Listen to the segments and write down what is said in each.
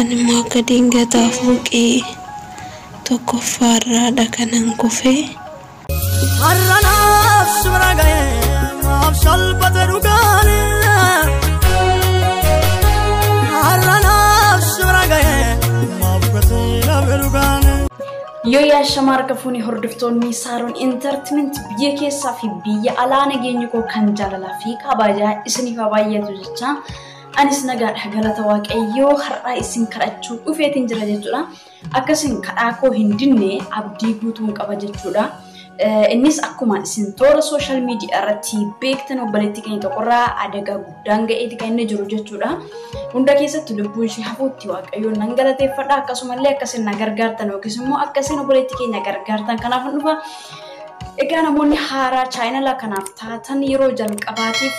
Anummoo akka diingataa fooqii tokkoffaarraadha kanan kufe. Har'a naaf si bira ga'e naaf salphate dhugaan. Har'a naaf si bira ga'e maaf gatii dhabe dhugaan. Yoo yaashama harka fuunee hordoftoonni Saaroon Intartimeent biyya keessaa fi biyya alaa nageenyi koo kan jaalalaa fi kabajaa isiniif haa baay'atu jechaa Anis nagaadha galata waaqayyoo har'aa isin kadhachuu dhufeetiin jira jechuudha. Akkasiin kadhaa koo hin dinne abdii guutuun qaba jechuudha. Innis akkuma isin toora sooshaal miidiyaa irratti beektan obboleettii keenya tokkorraa adagaa guddaan ga'eeti kan inni jiru jechuudha. Hunda keessatti lubbuun ishee hafuutti waaqayyoon nan galateeffadha akkasumallee akkasiin na gargaartan yookiis immoo akkasiin obboleettii keenya gargaartan kanaaf dhufa. Egaa namoonni haaraa chaayinala kanaaf taatan yeroo jalqabaatiif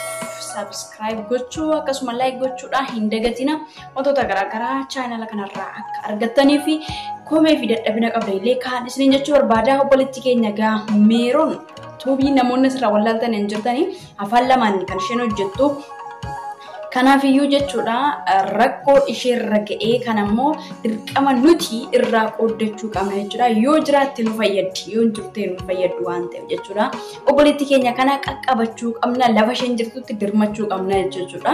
subscribe gochuu akkasuma like gochuudhaan hin dagatina wantoota garaagaraa chaayinala kanarraa akka argattanii fi komee fi dadhabina qabdan illee kaan isiniin jechuu barbaada obboleetti keenya gaa meeroon tuubii namoonni asirraa wallaaltan hin jirtanii afaan lamaan kan isheen hojjettu. Kanaafiyyuu jechuudha rakkoo isheerra ga'ee kan ammoo dirqama nuti irraa qooddachuu qabna jechuudha. Yoo jiraatte nu fayyaddi, yoo hin jirte nu fayyaddu waan ta'eef jechuudha. Obboleettii keenya kana qaqqabachuu qabna, lafa isheen jirtutti dirmachuu qabna jechuudha.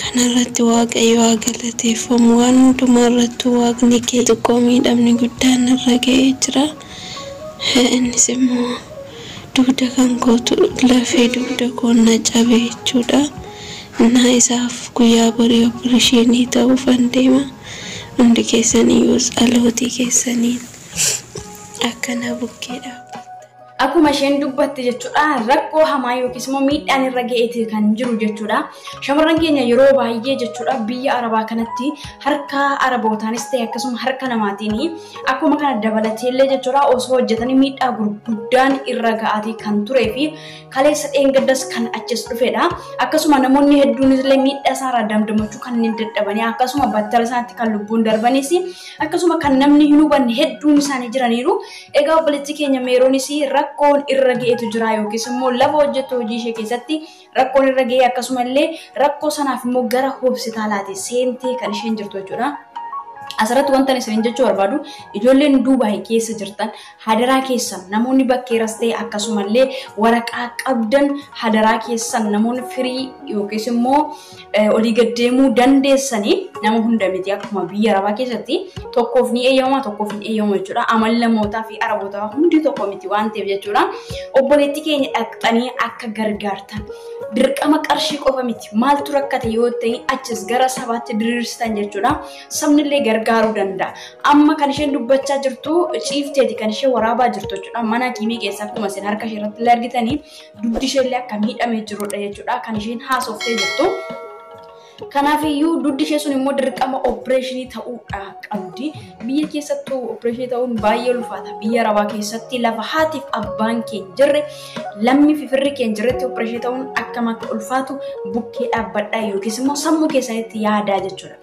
Kana irratti Waaqayyo haa galateeffamu. Waan hundumaa irrattuu Waaqni kee xiqqoo miidhamni guddaan irra ga'ee jira. Innis immoo dugda kan kootu lafee dugda koo na cabe jechuudha. Innaa isaaf guyyaa borii oppirishiinii ta'uufan deema. Hundi keessaniyyuus dhalootii keessaniin akka na bukkee dhaabbattan. Akkuma isheen dubbatte jechuudha rakkoo hamaa yookiis immoo miidhaan irra ga'eeti kan jiru jechuudha. Shamarran keenya yeroo baay'ee jechuudha biyya arabaa kanatti harka arabootaanis ta'e akkasuma harka namaatiin akkuma kana dabalateellee jechuudha osoo hojjetanii miidhaa gurguddaan irra ga'aati kan turee fi kaleessa dheengaddas kan achis dhufedha. Akkasuma namoonni hedduun illee miidhaa isaarraa damdamachuu kan hin dadhabanii akkasuma battala isaatti kan lubbuun darbanis akkasuma kan namni hin hubanne hedduun isaanii jiraniiru. Egaa obboleettii keenya Meeroonis rakkoon irra ga'etu jira yookiis immoo lafa hojjettu hojii ishee keessatti rakkoon irra ga'ee akkasuma illee rakkoo sanaaf immoo gara hospitaalaati seentee kan isheen jirtu jechuudha. Asirratti wantan isin jechuu barbaadu ijoolleen Duubaay keessa jirtan hadaraa keessan namoonni bakkeeras ta'e akkasumallee waraqaa qabdan hadaraa keessan namoonni firii yookiis immoo olii gad deemuu dandeessanii nama hunda miti akkuma biyya arabaa keessatti tokkoof ni eeyyamama tokkoof hin eeyyamamu jechuudha. Amal namootaa fi arabootaa hundi tokko miti waan ta'eef jechuudha. Obboleettii keenya dhaqxanii akka gargaartan dirqama qarshii qofa miti maaltu rakkate yoo ta'e achis gara sabaatti diriirsitan jechuudha. Sabni illee gargaaruu danda'a. Amma kan isheen dubbachaa jirtu ciifteeti kan ishee waraabaa jirtu jechuudha. Mana kiimii keessa akkuma isin harka ishee irratti illee argitanii dugdi isheellee akka miidhamee jirudha jechuudha kan isheen haasoftee jirtu. Kanaafiyyuu dugdi ishee sun immoo dirqama opereeshinii ta'uudha qabdi. Biyya keessattuu opereeshinii ta'uun baay'ee ulfaata. Biyya arabaa keessatti lafa haatiif abbaan kee hin jirre lammii fi firri kee hin jirretti opereeshinii ta'uun akkam akka ulfaatu bukkee dhaabbadhaa yookiis immoo sammuu keessanitti yaadaa jechuudha.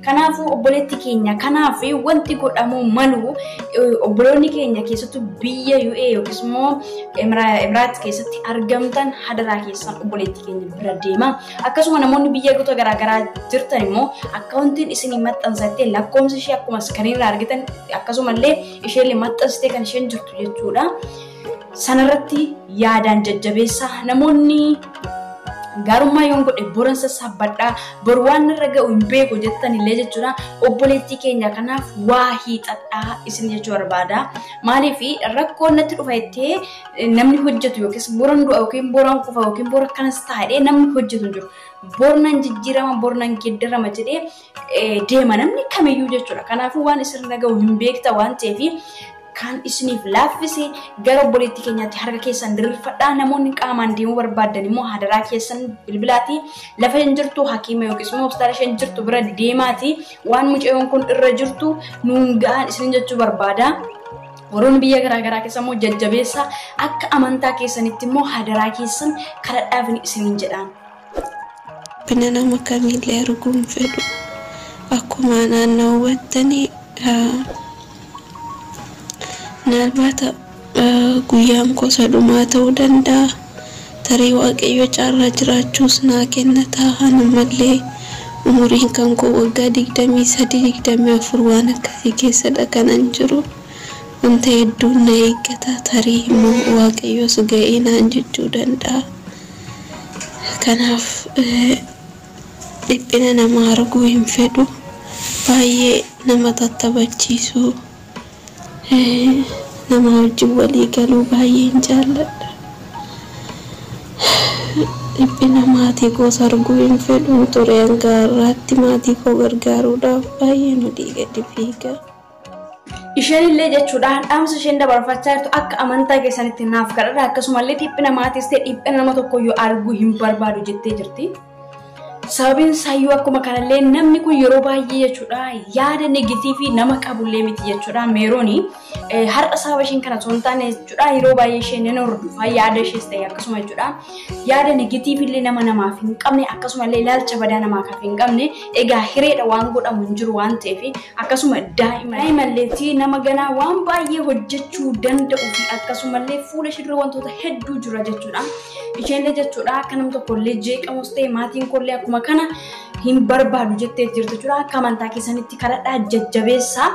Kanaafuu obboleetti keenya kanaaf wanti godhamuu malu obboloonni keenya keessattuu biyya UA yookiis immoo Emiraat keessatti argamtan hadaraa keessan obboleetti keenya bira deema. Akkasuma namoonni biyya gosa garaagaraa jirtan immoo akkaawuntiin isinii maxxansattee lakkoomsa ishee akkuma iskiriinirraa argitan akkasumallee isheen maxxansitee kan isheen jirtu jechuudha. Sanarratti yaadaan jajjabeessa. Namoonni gaarummaa yoon godhe boran sassaabbadha bor waan irra ga'u hin beeku jettan illee jechuudha obboleettii keenya kanaaf waa hiixadhaa isin jechuu barbaada maaliif rakkoo natti dhufa jettee eh, namni hojjetu yookiis boran du'a yookiin boran kufa yookiin bora kanas taa'ee namni hojjetu hin jiru bornan jijjiirama bornan geeddarama jedhee deema namni kamiyyuu jechuudha. Kanaafuu waan isin irra gahu hin beekta waan ta'eef kan isiniif laaffise gara obboleettii keenyaatti harka keessan diriirfadhaa namoonni qaamaan deemuu barbaadan immoo hadaraa keessan bilbilaatii lafa hin jirtu hakiima yookiis immoo hospitaala isheen jirtu bira deemaatii waan mucayyoon kun irra jirtu nuun ga'aan isin jechuu barbaada. Warroonni biyya garaa garaa keessa immoo jajjabeessa akka amantaa keessanitti immoo hadaraa keessan kadhadhaaf isiniin jedhaan. Rabbina nama kamiillee arguu hin fedhu. Akkuma anaan na hubattani minaalbaata guyyaan koo isa dhumaa ta'uu danda'a. Tarii Waaqayyo carraa jiraachuus naa kenna ta'a. An ammallee umuriin kan koo waggaa 23, 24 waan akkasii keessadha kanan jiru. Wanta hedduun na eeggata. Tarii immoo Waaqayyos ga'ee naan jechuu danda'a. Kanaaf dhiphina namaa arguu hin fedhu. Baay'ee nama tattabachiisuu, namaa wajjin walii galuu baay'een jaalladha. Dhiphina maatii koos arguu hin fedhun ture hanga har'aatti maatii koo gargaaruudhaaf baay'een olii gadi fiiga. Isheenillee jechuudhaan dhaamsa isheen dabarfachaa jirtu akka amantaa keessanitti naaf kadhadha akkasumallee dhiphina maatiis ta'e dhiphina nama tokkoyyuu arguu hin barbaadu jettee jirti. Sababiin isaayyuu akkuma kanallee namni kun yeroo baay'ee jechuudha yaada negatiivii nama qabullee miti jechuudha meerooni har'a sababa isheen kana osoo hin taane jechuudha yeroo baay'ee isheen nan hordofaa yaada ishees ta'e akkasuma jechuudha yaada negatiiv illee nama namaaf hin qabne akkasuma illee ilaalcha badaa namaaf hin qabne egaa hireedha waan godhamu hin jiru waan ta'eef akkasuma daa'ima daa'ima illeetti nama ganaa waan baay'ee hojjechuu danda'u fi akkasuma illee fuula ishee dura wantoota hedduu jira jechuudha. Isheen illee jechuudha akka nam tokko illee jeeqamus ta'e maatiin koo illee akkuma kana hin barbaadu jettee jirtu jechuudha akka amantaa keessanitti kadhadhaa jajjabeessaa.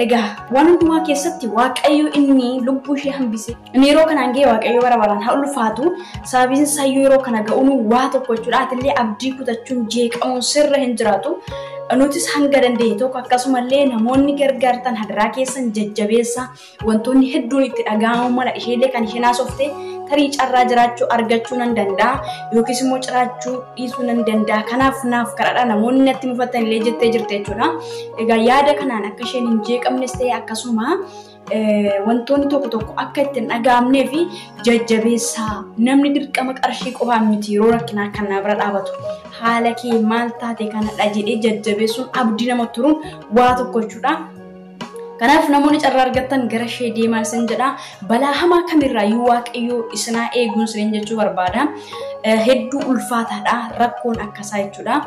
Egaa waan hundumaa keessatti waaqayyo inni lubbuu ishee hambise. Inni yeroo kanaan ga'e waaqayyo bara baraan haa ulfaatu. Sababiin isaa yeroo kana ga'uun waa tokko jechuudha. Atillee abdii kutachuun jeeqamuun sirra hin jiraatu. Nutis hanga dandeenye tokko akkasumallee namoonni gargaartan hadaraa keessan jajjabeessa wantoonni hedduun itti dhaga'amuu mala isheellee kan isheen haasofte tarii carraa jiraachuu argachuu nan danda'a yookiis immoo jiraachuu dhiisuu nan danda'a kanaaf naaf kadhadha namoonni natti mufattan illee jettee jirte jechuudha. Egaa yaada kanaan akka isheen hin jeeqamnes ta'e akkasuma wantoonni tokko tokko akka itti hin dhaga'amnee fi jajjabeessaa namni dirqama qarshii qofaan miti yeroo rakkinaa kan na bira dhaabatu haala kee maal taate kanadha jedhee jajjabeessuun abdii nama turuun waa tokko jechuudha. Kanaaf namoonni carraa argattan gara ishee deemaa isin jedha. Balaa hamaa kamirraa yoo waaqayyoo isinaa eeguun isin jechuu barbaada. Hedduu ulfaataadha rakkoon akkasaa jechuudha.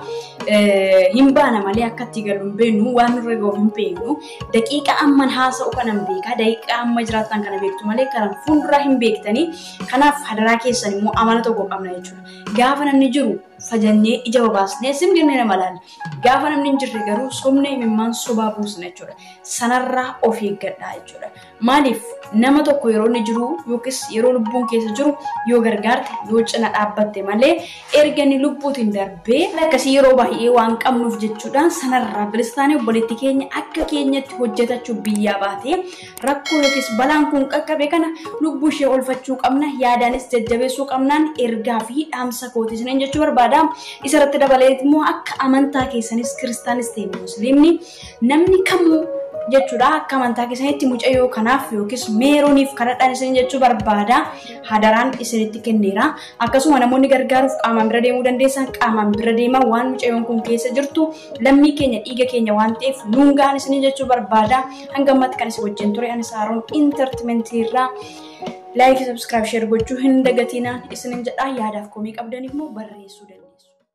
Hin baana malee akka itti galu hin beeknu waan nurra gahu hin beeknu. daqiiqa amman haasa'u kanan beekaa daqiiqa amma jiraattan kana beektu malee kanan fuulduraa hin beektanii kanaaf hadaraa keessan immoo amala tokko qabna jechuudha. Gaafa namni jiru fajannee ija babaasnee sim jennee nama laalla. Gaafa namni hin jirre garuu sobnee imimmaan sobaa buusna jechuudha. Sanarraa of eeggadhaa jechuudha. Maaliif nama tokko yeroo inni jiru yookiis yeroo lubbuun keessa jiru yoo gargaarte yoo cina dhaabbatte malee erga inni lubbuutiin darbee akkasii yeroo baay'ee waan qabnuuf jechuudhaan sanarraa bilisa taanee obboleetti keenya akka keenyatti hojjetachuu biyyaa baatee rakkoo yookiis balaan kun qaqqabe kana lubbuu ishee oolfachuu qabna yaadaanis jajjabeessuu qabnaan ergaa fi dhaamsa kooti isiniin jechuu barbaada. Isarratti dabalee immoo akka amantaa keessanis kiristaanis ta'e musliimni Namni kamuu jechuudha akka amantaa keessanitti mucayyoo kanaaf yookiis meerooniif kadhadhaan isin jechuu barbaada hadaraan isinitti kenneera akkasuma namoonni gargaaruuf qaamaan bira deemuu dandeessan qaamaan bira deemaa waan mucayyoon kun keessa jirtu lammii keenya dhiiga keenya waan ta'eef nuun ga'an isin jechuu barbaada hanga ammatti kan isin wajjin ture anis haaroon intartimentii irraa laayikii sabskiraayib sheer gochuu hin dagatinaa isinin jedhaa yaadaaf komii qabdan immoo barreessuu dandeessu.